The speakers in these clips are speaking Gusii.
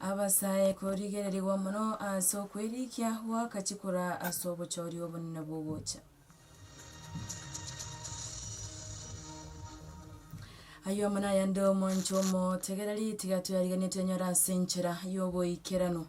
Abasae korigererigwa mono ase okwerikia gw'akachi koraa ase obochooria obonene bw'ogocha. Ayomo nayande omwancho omotegereri, tiga toyarigenetie enyore ase enchera y'oboikeranu.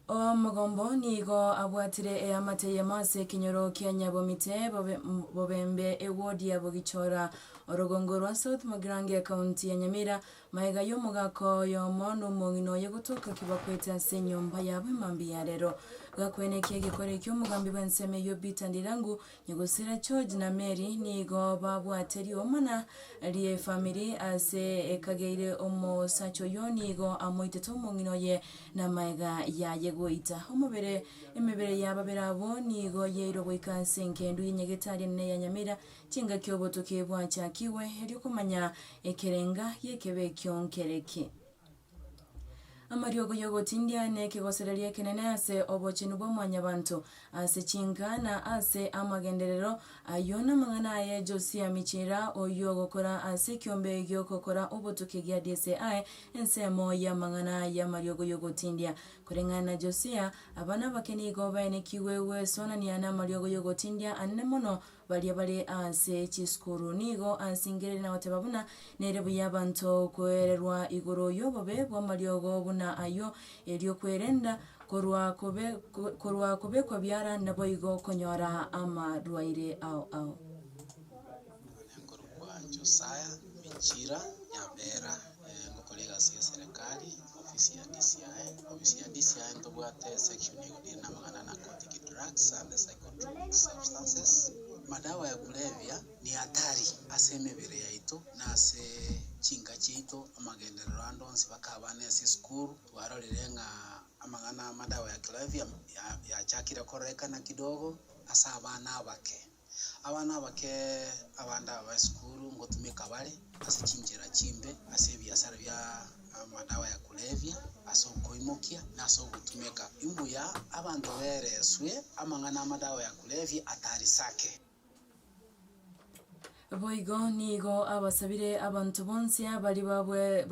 Omogombo nigo abwatire eamate eyemo ase ekenyoro kia Nyabomite, bobe bobembe ewodia bogichora orogongo rwa South Magirange county ya Nyamira. Maega y'omogaka oyomo nomong'ina oye gotoka kibakwete ase enyomba yabo emambia yarero. Gakwene ki egekore eki'omogambi bw'ensemo eyio Peter Ndirangu Gosira George na Mary nigo babwate riomana ri'efamiri ase ekageire omosacha oyio nigo amoitete omong'ina oye na maega yaye goita omobere. Emebere ya babere abwo nigo yairwe goika ase engendu ye Nyagetari enene ya Nyamira chingaki obotuki bwachakigwe, erio komanya ekerenga gi'ekebe ekio nkere ki. Amariogo y'ogotindia nekegosereria ekenene ase obochenu bwa mwanyabanto, ase chinka, na ase amagenderero ayio, namang'ana aye Josia Michira, oyio ogokora ase ekiombe gi'okokora obotuki gia DCI, ensemo y'amang'ana y'amariogo y'ogotindia. Koreng'ana na Josia, abana abake nigo baenekigwe gweswanania namariogo y'ogotindia anene mono, Baria bare ase chisukuru nigo ansingereri na goteba buna nere buya abanto kwererwa igoro yobobe bwamariogo buna ayio, erio kwerenda korwa kobe korwa kobekwa biara naboigo konyora amarwaire ao ao. Nonya korokwa Josiah michira ya Bera. Gokora egasi y'eserekari, ofisi ya DCI, Ofisi ya DCI ntobwate esection egotenena amang'ana na narcotic drugs and psychotropic substances. Madawa ya kulevya ni hatari ase emebere yaito na ase chinka chiaito. Amagenderero ande onsi mpaka abana ase esukuru twarorire ng'a amang'ana 'amadawa ya kulevya' yachakire kororekana kidogo ase abana abake. Abana abake abande aba esukuru ngotumeka bare ase chinchera chimbe, ase ebiasara bia amadawa ya kulevya, ase okoimokia, na ase ogotumeka imbuya abanto bereswe amang'ana amadawa ya kulevya atari sake. Boigo nigo abasabire abanto bonsi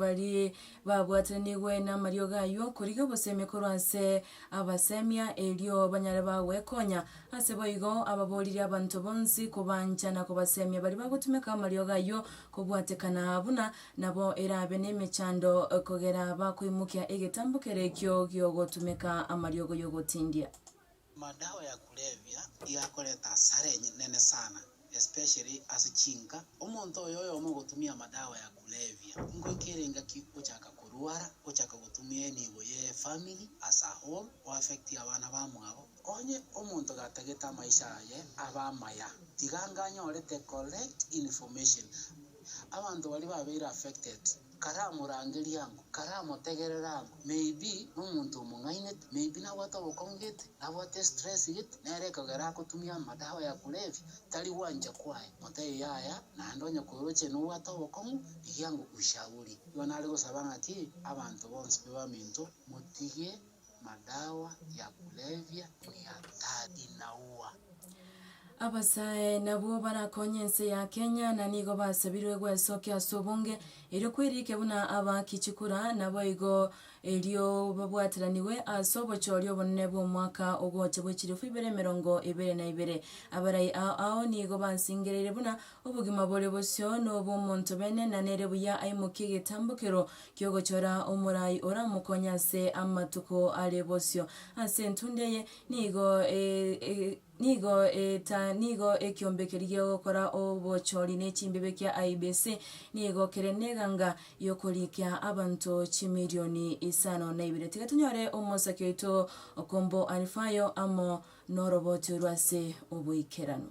baria babwatanigwe namariogo ayio, korigia obosemi korwa ase abasemia, erio banyare bagwekonya. Ase boigo, ababoririe abanto bonsi kobancha na kobasemia baria bagotumeka amariogo ayio kobwatekana buna nabo erabe nemechando kogera bakoimokia egetambo kere ekio giogotumeka amariogo y'ogotindia. Amadawa ya kulevya igakoreta asara enene sana especially ase chinka, omonto oyo oyomo ogotumia amadawa ya kulevia, ngoika ere engaki ochaka korwara, ochaka gotumia enibo ye family as a whole, o affect abana bamwabo. Onye omonto gatagete amaisha aye abe amaya, tiga anga anyorete correct information. Abanto baria babeire affected. karamorangerie ango, karamotegerere ango, maybe nomonto omong'ainete, maybe nabwate obokong'u gete, nabwate estress gete, nere ekogera agotumia amadawa ya kulevya, tari gwancha kwaye, motebi yaya, naende onye koroche nobwate obokong'u, rigia ango ushauri. Igo nare gosaba ng'aki, abanto bonsi be baminto, motige Madawa ya kulevya ni hatari na huwa. Abasae nabwo barakonye ense ya Kenya na nigo basabirwe gwesokia ase obonge erio kwerike buna abaaki chikura naboigo erio babwatiranigwe ase obochoria obonene bw'omwaka ogocha bw'echilifu ibere emerongo ebere na ibere. Abarai ao ao nigo bansingereire buna Obogima bore bosio nobw'omonto bene, na nere buya aimokie egetambokero ki'ogochora omorai oramokonye ase amatuko are bosio. Ase entunda eye nigo nigo nigo ekiombe keria gi'ogokora obochori ne chimbibe kia IEBC nigo kere neganga y'okorikia abanto chimirioni isano na ibere. Tiga tonyore omosaki oito Okombo Alfayo amo noroboti orwo ase oboikeranu.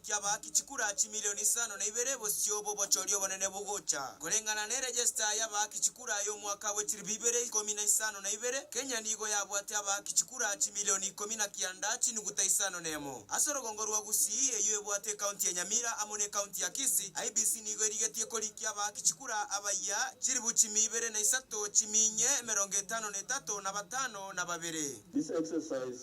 kiabaaki chikura chimilion isano na ibere bosio bw'obochori obonene bogocha, koreng'ana ne register y'abaaki chikura y'omwaka bwe chiribu ibere ikomi na isano na ibere, Kenya nigo yabwate abaaki chikura chimilion ikomi na kianda chinuguta isano na emo. Ase orogongo rwa Gusii, eyio ebwate ecounty ya Nyamira amo n'ecounty ya Kisii, IEBC nigo erigetie korikia abaaki chikura abayia chiribu chimia ibere na isato chimia inye emerongo etano na etato na batano na babere.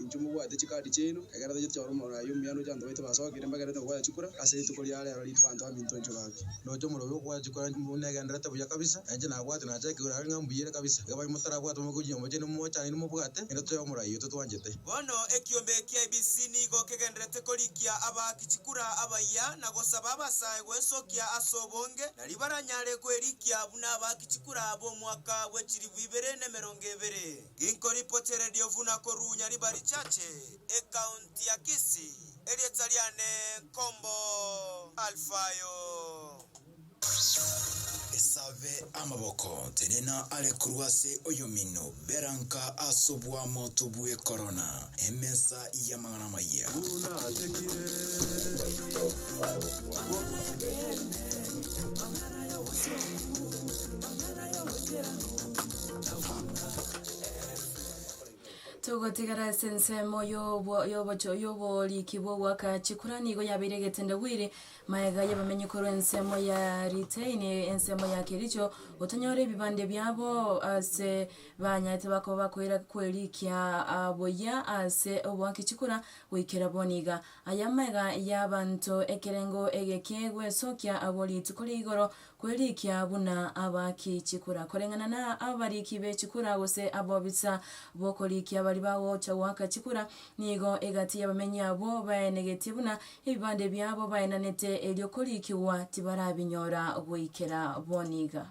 Inchuo mobwate chikaadi chiaino, egera tacheti chao nomoro aye omuya ndoche abanto baito basookire mbagerete kogoya chikura ase rituko ria reero riitwe abanto baminto inchuo baake. Ndoche omoro oyo okogoya chikura inchuo mobwate negendererete buya kabisa, enche nabwate nachakigwera are ng'a mbuyere kabisa. Iga baye motarabwate momoke ochinyomba chiaino momochaanire mobwate ng'a toyo omorai oyo totwanchete. Bono ekiombe ekia IEBC nigo kegendererete korikia abaaki chikura abayia na gosaba abasae gwensokia ase obonge nario baranyare kwerikia buna abaaki chikura b'omwaka bw'echilifu ibere na emerongo ebere. Riko ripochererio buna korunya riba richache ekaunti ya Kisii, erieta riane nkombo Alfayo. Esabe amaboko, tenena are korwa ase oyomino, bera nka ase obwamoto bwe korona, emesa y'amang'ana amaye. Buna atekire obogima bw'omonto. Togotigara ase ensemo y'obo y'obocho y'obooriki bw'ogwaka chikura nigo yabeire egetendawiri, magega y'abamenyi korwa ensemo ya Riteini, ensemo ya Kericho, gotonyora ebibande biabo ase banyarete bakoba bakoira kwerikia buya ase obwaki chikura goikera bono iga. Aya amagega y'abanto ekerengo ege kegwesokia abo rituko ria igoro Kwerikia buna abaaki chikura, koreng'ana na abariiki be chikura gose abobisa b'okorikia baria bagocha goaka chikura, nigo egati y'abamenyi abwo baenegetie buna ebibande biabo baenanete erio korikigwa tibarabinyora goikera bono iga.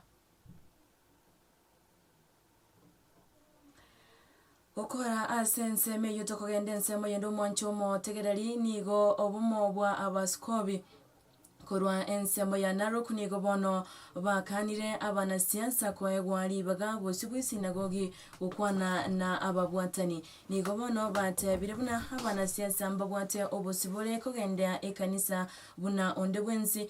Gokora ase ensemo eyio tokogenda ensemo yende omwanche omootegereri nigo obomo bwa abasikobi. Korwa ensemo ya Narok nigo bono bakaanire abanasiasa koegwa ribaga bosio bw'esinagogi gokwana na ababwatani. Nigo bono batebire buna abanasiasa mbabwate obosibore kogendea ekanisa buna onde bwensi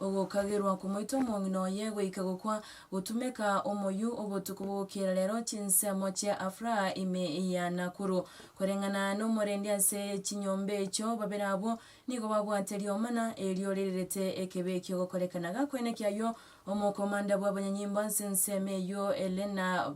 Ogokagerwa komoita omong'ina oye goika gokwa, gotumeka omoyio obotuko bogokera rero chinsemo chia afraha ime ya Nakuru. Koreng'ana nomorendi ase chinyomba echio, babere abwo nigo babwate rioma na erio ririrete ekebe ekio gokorekana. Gakoeneki ayio, omokomanda bw'abanyanyimbo ase ensemo eyio Elena,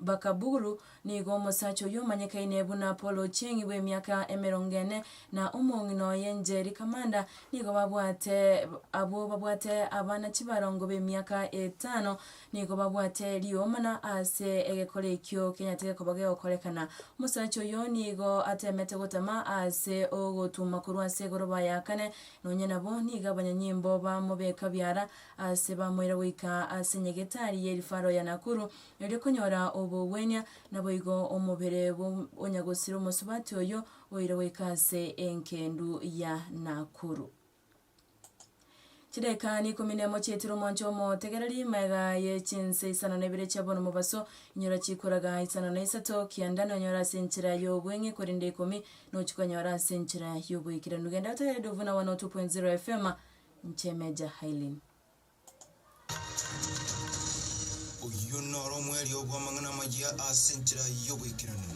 Bakaburu nigo omosacha oyio omanyekaine buna Paul Ochieng' bw'emiaka emerongo ene na omong'ina oye Njeri Kamanda nigo babwate abwo babwate abana chibarongo b'emiaka etano nigo babwate rioma na ase egekora ekio kenyarete gekoba gegokorekana. Omosacha oyio nigo atemete gotama ase ogotuma korwa ase egoroba ya kane nonye nabo nigo abanyanyimbo bamobeka biara Ase bamoira goika ase nyagetari y'erifaro ya Nakuru, erio konyora obogwenia, naboigo omobere bw'Onyagosire omosubati oyio oire goika ase engendu ya Nakuru. Chidakika n'ikomi nemo chiaetire omwancho omotegereri, maega ye chinse isano nebere chia bono mobaso, inyora chikuraga isano na isato, kianda nonyore ase enchera y'obweng'e, korende ikomi nochikonyora ase enchera y'oboikeranu. Genda otegereri Dovuna 102.0 FM. Inche Major Hailin. Oyio noro omwerio bw'amang'ana amayia ase enchera y'oboikeranu.